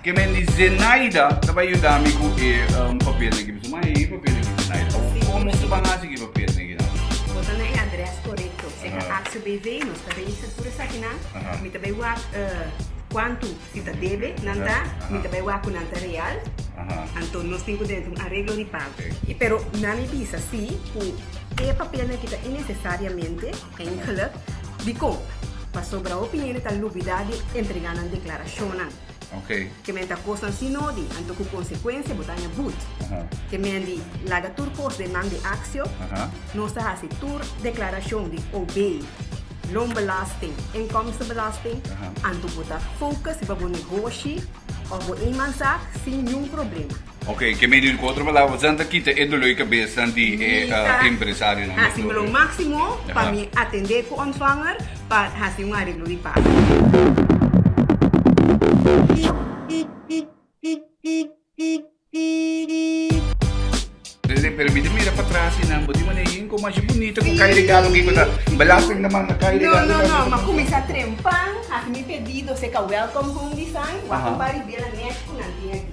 Ke men di Zenaida ta bai yuda mi ku e papel negi. Mi bisa, ma e papel negi Zenaida? Komo nos ta ban hasi ku e papel negi nan? Bo ta na e adrès korekto. Se ta ACBV, nos ta reisa tur esaki nan. Mi ta bai wak kuantu si ta debe nan ta. Mi ta bai wak ku nan ta real. Anto nos tin ku den un areglo di pago. I pero nan mi bisa si ku e papel negi ta inesesariamente, ta ingeluk. Dikon? Pasobra hopi hende ta lubidá di entrega nan deklarashonnan. Okay. Ke men ta kosnan si no di, anto ku konsekuensia bo ta haña but. Aha. Ke men di laga tur kos den man di aksio, Aha. nos ta hasi tur deklarashon di OB, loonbelasting, inkomstenbelasting, Aha. anto bo ta fokus riba bo negoshi òf bo eenmanszaak sin niun problema. Ok, ke medio di ku otro palabra, esnan ta kita e dolor di kabesnan di e empresarionan. Mi ta hasi mi lo máksimo pa mi atendé ku ontvanger pa hasi un areglo di paga. Presidente, permite mi mira patras i nan bo di manera yin komo ashi bunita ku kai regalo aki ku ta belasting ta manda kai regalo. No, no, no, mi a kuminsá trempan hasi mi pedido, seka welcome home design, wak un par di biela nèt ku nan tin aki.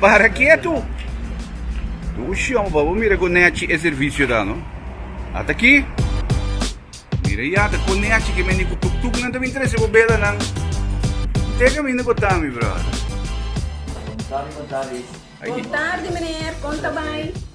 Para kietu! Bo shon pa bo mira konechi e servisio ta no. At aki! Mira ya ta konechi ke meni ku tuk tuk nan ta bin trese bo bela nan. Te kaminda bo ta mi brother. Bon tardi, meneer. Konta bai?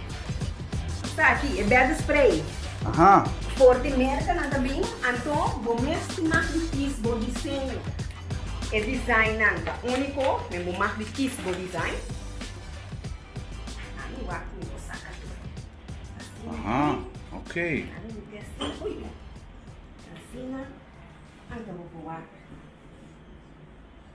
Ta aki e bèdde spray. Aha! For di mèrkanan ta bin, anto bo mes tin mas di kies bo diseño. E designan ta úniko, den bo mas di kies bo design. Ami wak mi lo saka tur asina. Aha! Ok. Ami lo testa ui. Asina anto bo por wak.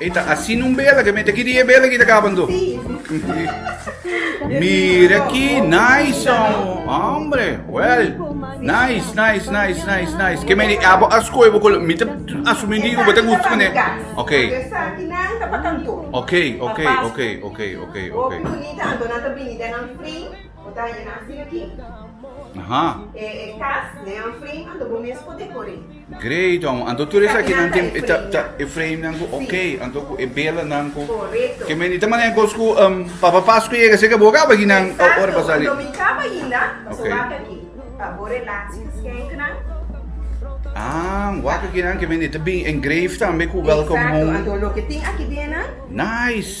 Ey ta asina un bela ke mete aki di e bela ki ta kaban do. Mira ki nice hombre. Well, nice, nice, nice, nice, nice. Ke meni abo askoy bo kolo. Mita asumi di ubo ta gusto ne. Okay. Okay, okay, okay, okay, okay, okay. Aha. Great hombre, anto tur esakinan tin ta e frame nan ku ok, anto ku e belanan ku ke meni ta maneha kos ku Papa Pasku a yega seka bo kaba aki nan ora pa sali. Ah, wak aki nan ke meni ta bin engrave tambe ku welcome home. Nice.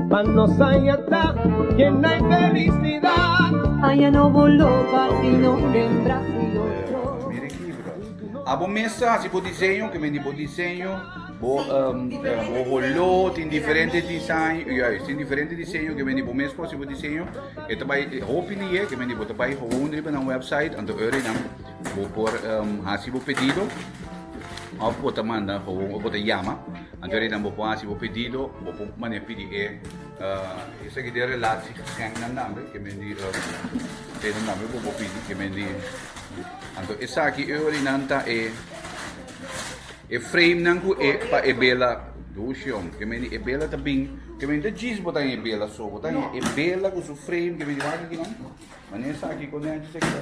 Pa nos haña ta yenai felicidad. Haña no boló pa ti no hembra si otro. Mira e kibra. Abo mes ta hasi bo diseño, kimen di bo diseño, bo bo holó tin diferente design, juist, tin diferente diseño kimen di bo mes por hasi bo diseño. E ta bai hopi lihé kimen di bo ta bai houn riba nan website, anto e ora nan bo por hasi bo pedido òf bo ta manda houn òf bo ta yama. Anto Rei nan bo por haci bo pedido, bo por mane pidi e. Esaki den relaci geschenk nan namber, ke men di Rei nan namber bo por pidi, ke men di. Anto esaki e ori nan ta e e frame nan ku e pa e bela ducion, ke men di e bela ta bin, ke men ta djis bo ta hen e bela so, bo ta hen e bela ku su frame, ke men di wak aki nan, mane esaki, kondenchi esaki ta.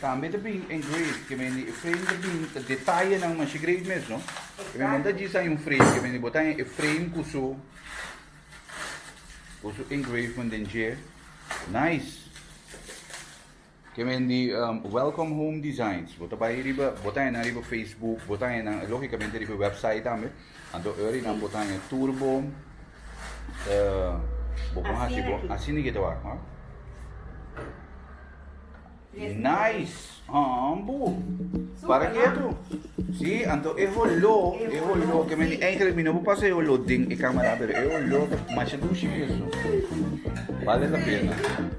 Tambe ta bin engrave ke men di e frame ta bin ta detayenan masha great mesno. Ke men manda djis hay un frame ke men di bota hay e frame ku su ku su engrave man den dje. Nice. Ke men di um, Welcome Home Designs. Bota bay riba, bota hay nan riba Facebook, bota hay nan logicamente riba website tambe. Anto Eury nan por ta haña tur bo bo por hasi bo asina ki ta wak hoor nice haan bo para ketu si anto e holo e holo ke mi eigenlijk mi no por pasa e holo den e camera pero e holo ta masha dushi beso bale la pena.